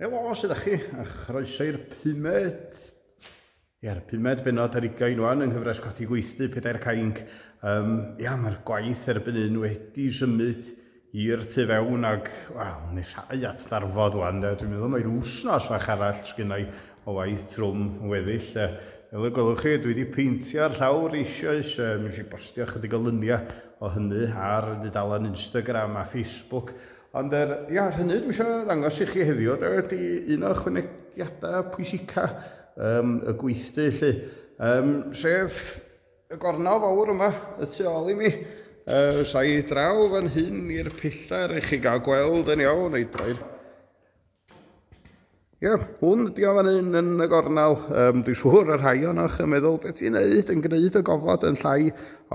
Helo, sydd â chi, a chroeso i'r pumed, ia'r pumed benod ar ugain wan yng nghyfres codi gweithdy pedair cainc. Um, ia, mae'r gwaith erbyn un wedi symud i'r tu fewn ag, wel, nesau at ddarfod wan, de. Dwi'n meddwl mae rhyw wsnos fach arall sgynnau o waith trwm weddill. De. Fel y gwelwch chi, dwi wedi peintio'r llawr eisioes, e, mi eisiau bostio chydig o lyniau o hynny ar y dudalen Instagram a Facebook, Ond er, ia, ar hynny, dwi eisiau ddangos i chi heddiw, da, ydy un o chwynegiadau pwysica um, y gweithdy, lle, um, sef y gornel fawr yma, y tu ôl i mi, uh, sa'i draw fan hyn i'r pillar i chi gael gweld yn iawn, ei droi'r Ie, hwn ydi o fan hyn yn y gornel. Um, dwi'n siŵr y rhai o'ch yn meddwl beth i'n neud yn gwneud y gofod yn llai,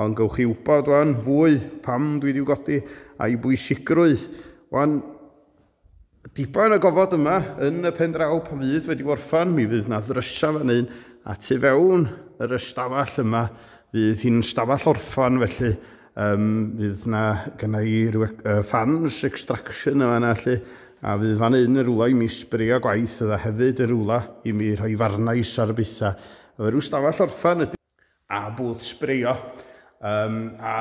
ond gywch chi wybod o'n fwy pam dwi wedi godi a'i bwysigrwydd. Wan, diben y gofod yma yn y pen draw pan fydd wedi gorffan, mi fydd na ddrysa fan hyn a tu fewn yr ystafell yma fydd hi'n stafell orffan felly Um, fydd na gyna i rhyw uh, fans extraction yma na allu, a fydd fan un yn rwla i mi sbrio gwaith yda hefyd yn rwla i mi rhoi farnais ar bethau. Efo rhyw stafell orffan ydy, a bwth sbrio, um, a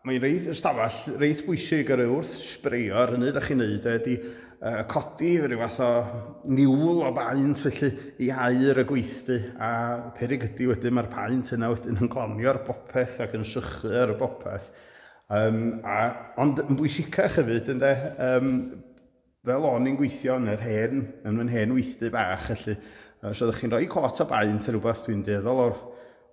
mae'n reit ystafell reit bwysig ar ei wrth sbreio ar hynny da chi'n neud e, ydy uh, codi rhyw fath o niwl o baent felly i air y gweithdy a perig ydy wedyn mae'r paent yna wedyn yn glanio'r bopeth ac yn sychu ar y bopeth. Um, a, ond yn bwysicach hefyd, ynde, um, fel o'n i'n gweithio yn yr hen, yn fy hen weithdy bach, felly, os oeddech chi'n rhoi cot o baent yn rhywbeth dwi'n deddol o'r,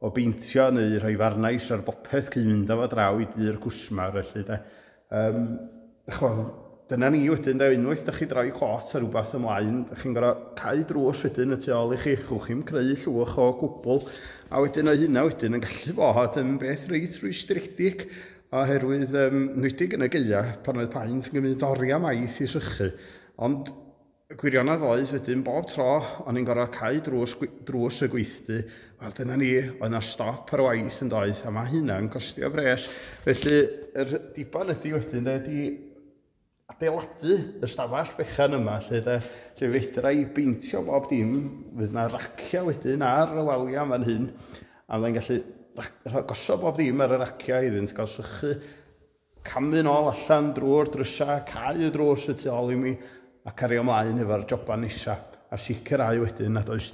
o beintio neu rhoi farnais ar bopeth cyn mynd â fo draw i dy'r cwsmar, felly, de. Um, chwal, dyna ni wedyn, da, unwaith da chi droi cot ar rhywbeth ymlaen, da chi'n gorau cael drws wedyn y tu ôl i chi, chwch chi'n creu llwch o gwbl, a wedyn o hynna wedyn yn gallu bod yn beth reit rwystredig, oherwydd um, nwydig yn y geia pan oedd paent yn gymryd oriau maith i sychu. Ond Y gwirionedd oedd wedyn bob tro o'n i'n gorfod cau drws, drws y gweithdy, wel dyna ni, oedd na stop ar waith yn doedd, a mae hynna'n costio bres. Felly, yr diban ydy wedyn, de, ydy adeiladu y stafell fechan yma, lle, de, lle fedra i beintio bob dim, fydd na raciau wedyn ar y waliau fan hyn, a fyddai'n gallu gosod bob dim ar y raciau iddynt gael sychu Camddu'n ôl allan drwy'r drysau, cau y drws y tu ôl i mi a cario mlaen efo'r joban nesa a sicrhau wedyn nad oes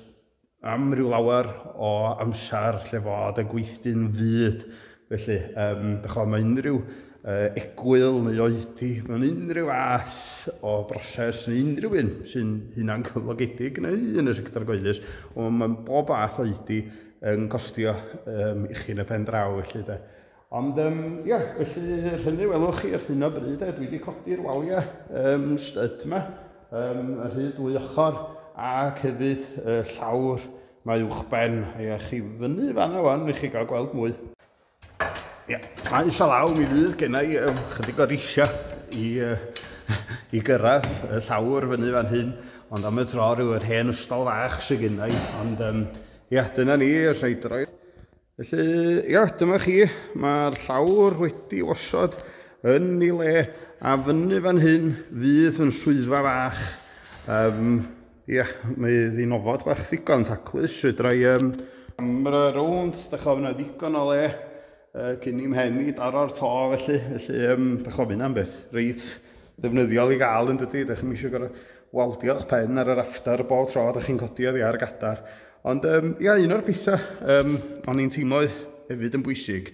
am ryw lawer o amser lle fod y gweithdy'n fud. Felly, um, dych chwa, mae unrhyw uh, egwyl neu oedi mewn unrhyw fath o broses neu unrhyw un sy'n hunan cyflogedig neu yn y sector gyhoeddus, ond mae bob fath oedi yn costio um, i chi yn y pen draw felly de. Ond yym ia, felly yr hynny welwch chi ar hyn o bryd, dwi wedi codi'r waliau um, stud yma, um, yr hyd dwy ochr, ac hefyd y llawr mae uwchben, a ia, chi fyny fanna wan, i chi gael gweld mwy. Ia, mae eisiau law, mi fydd gennau um, chydig o risia i, uh, i gyrraedd y llawr fyny fan hyn, ond am y tro rhyw yr hen ystol fach sy'n gennau, ond um, ia, dyna ni, os ei droi. Felly, ia, dyma chi, mae'r llawr wedi osod yn ei le, a fyny fan hyn fydd yn swyddfa fach. Um, ia, mae ddyn ofod bach ddigon taclus, fedra i um, camera rownd, da chofyn na ddigon o le, uh, cyn i'm hen i daro'r to felly, felly um, da chofyn am beth, reit ddefnyddiol i gael yn dydy, da chi'n eisiau gorau Waldiwch pen ar yr after bob tro ydych chi'n codi oddi ar y gadar. Ond um, ia, un o'r pethau um, o'n i'n teimlo hefyd yn bwysig,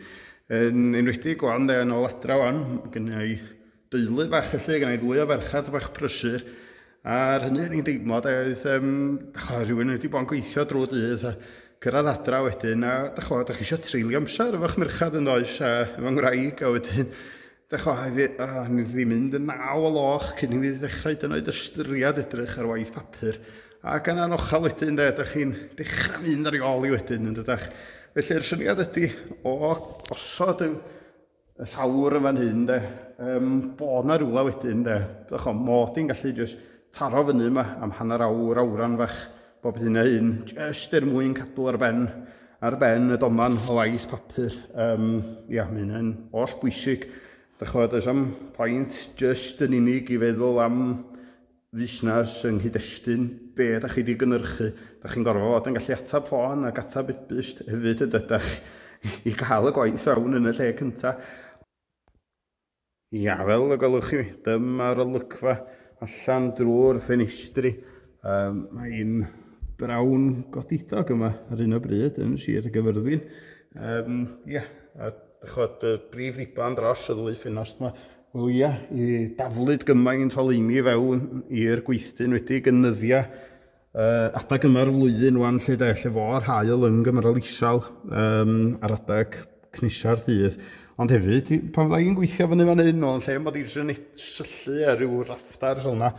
yn enwedig o'n de, yn ôl adra o'n, gyda i deulu bach felly, gyda i ddwy o ferchad bach prysur, a'r hynny o'n i'n deimlo, da, oedd, um, da chwa, rhywun wedi bod yn gweithio drwy dydd, a cyrraedd adra wedyn, a da chwa, da chi eisiau treulio amser efo'ch merchad yn does, a efo'n ngwraig, a wedyn, Dechrau i ddifrifyddu mynd yn naw o loch cyn i fi ddechrau hyd yn oed ystyried edrych ar waith papur. Ac yna yn ochal wedyn de, ydych chi'n dechrau mynd ar ei ôl i wedyn yn dydach. Felly'r syniad ydy o gosod y y llawr yn fan hyn de, um, bod na rhywle wedyn de, ddech o, mod i'n gallu jyst taro fyny yma am hanner awr, awran fach bob hyn a hyn, jyst er mwyn cadw ar ben, ar ben y doman o waith papur. Um, ia, mae hynny'n oll bwysig. Dych chi'n does am pwynt jyst yn unig i feddwl am fusnes yng nghyd-destun, be da chi wedi gynnyrchu. Da chi'n gorfod fod yn gallu atab ffôn ac atab e-byst hefyd yn dydych i gael y gwaith fewn yn y lle cyntaf. Ia, fel y gwelwch chi, dyma'r olygfa allan drwy'r ffenestri. Um, mae un brawn godidog yma ar un o bryd yn Sir y Gyfyrddin. Um, ia, a chod y brif ddiban dros y ddwy ffenast yma. Wel ia, i daflyd gymaint o leini fewn i'r gweithdyn wedi gynyddia uh, adeg yma'r flwyddyn wan lle de, lle fo'r hael yn gymryd isel um, ar adeg cnisa'r dydd. Ond hefyd, pan fydda i'n gweithio fyny fan hyn, o'n lle mod i'n syllu ar ryw rafftars fel yna,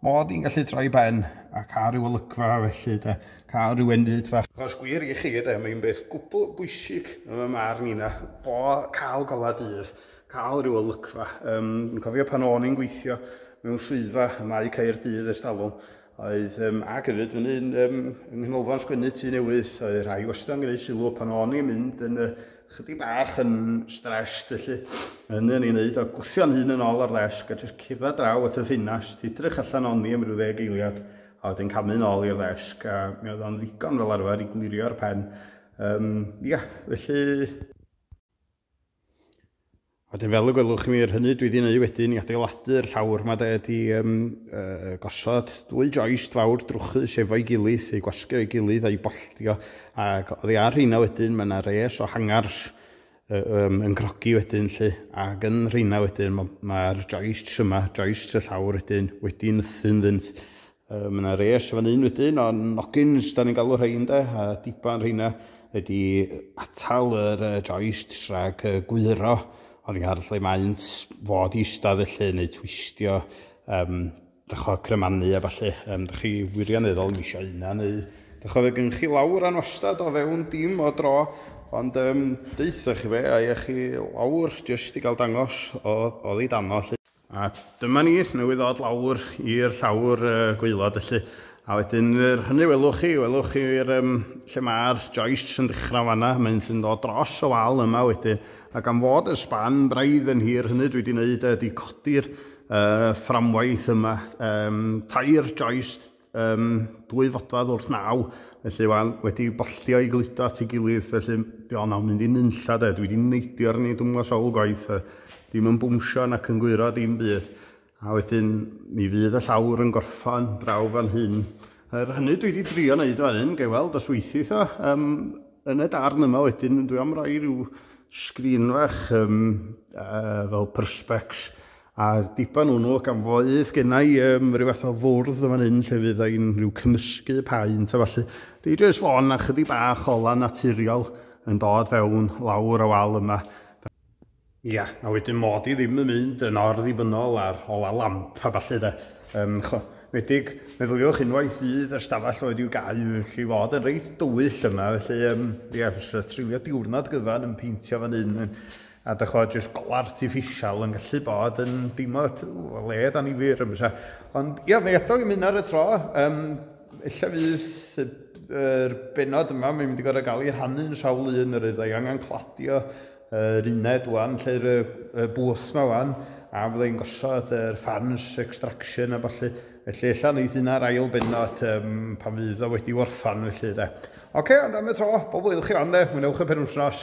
mod i'n gallu troi ben a cael rhyw olygfa felly de, cael rhyw enyd fach. Os gwir i chi de, mae'n beth gwbl bwysig yn y mar ni na, bo cael gola dydd, cael rhyw olygfa. Um, yn cofio pan o'n i'n gweithio mewn swyddfa y mae Caerdydd ers talwm, Oedd, um, ac hefyd, yn un um, yng Nghanolfan Sgwennu tu newydd, oedd rhai wastad yn gwneud sylw pan o'n i'n mynd yn uh, chydig bach yn stressed, felly yn yn ei wneud o gwthio'n hun yn ôl ar ddesg a jyst cyrra draw at y ffinast, edrych allan o'n i am rhyw ddeg eiliad, a wedyn camu'n ôl i'r ddesg, a mi oedd o'n ddigon fel arfer i glirio'r pen. Um, ia, felly... A wedyn fel y gwelwch mi yr hynny dwi wedi gwneud wedyn i adeiladu'r llawr yma de ydi um, uh, gosod dwy joist fawr drwchus efo'i gilydd, ei gwasgu o'i gilydd a'i bolltio ac oddi ar rheina wedyn mae yna res o hangars uh, um, yn crogi wedyn lle ac yn rheina wedyn mae'r ma joists yma, joists y llawr wedyn wedi nythu'n ddynt Yy, mae yna res fan un wedyn o nogins, da ni'n galw rhain de, a diban rheina ydy atal yr uh, joist rhag uh, gwyro oddi ar lle maent fod i eistedd felly neu twistio um, dycho cremannu a falle, um, dych chi wirioneddol yn eisiau yna neu dych chi gen chi lawr a'n wastad o fewn dim o dro ond um, deuthoch chi fe a chi lawr jyst i gael dangos o, o ddi dano lle. A dyma ni, newydd ddod lawr i'r llawr uh, gweilod felly. A wedyn yr hynny welwch chi, welwch chi'r um, lle mae'r joists yn dechrau fanna, mae'n sy'n dod dros y wal yma wedyn. A gan fod y span braidd yn hir hynny dwi wedi gwneud ydy codi'r uh, fframwaith yma, um, tair joist um, dwy fodfad wrth naw, felly wan, wedi bolltio i gludo at ei gilydd, felly di o'n aw'n mynd i nunlla de, dwi wedi neidio ar ni dwmgo sawl gwaith, e, dim yn bwmsio nac yn gwyro dim byd, a wedyn mi fydd y llawr yn gorffan draw fan hyn. Er hynny dwi wedi drio wneud fan hyn, gael weld os weithith o, um, yn y darn yma wedyn dwi am roi rhyw sgrin fach um, uh, fel perspex A diban o nhw, gan fo ith genna i um, rhyw fath o fwrdd yn fan hyn lle fydd ein rhyw cymysgu paent a falle. Di jyst fon a chydig bach o lan naturiol yn dod fewn lawr y wal yma. Ia, a wedyn mod i ddim yn mynd yn orddibynol ar ola lamp a falle de. Um, chwa, medig, meddyliwch unwaith fydd y stafell oedd i'w gau, felly i fod yn reit dywyll yma, felly um, ia, fes trefio diwrnod gyfan yn peintio fan hyn. A dych ch'mod, jyst golau artiffisial yn gallu bod yn deimlad o led anifyr yn fysa. Ond ia, mae adael i mynd ar y tro. Um, ella fydd yr er benod yma, mae'n mynd i gorau gael ei rhannu'n sawl un yr ydda i angen cladio yr uned wan, lle'r y bwth yma wan, a fydda i'n gosod yr fans extraction a falle, felly ella wneud un ar ail benod um, pan fydd o wedi warfan felly de. Oce, okay, ond am y tro, bob wyl chi fan de, mwynewch y penwsnos.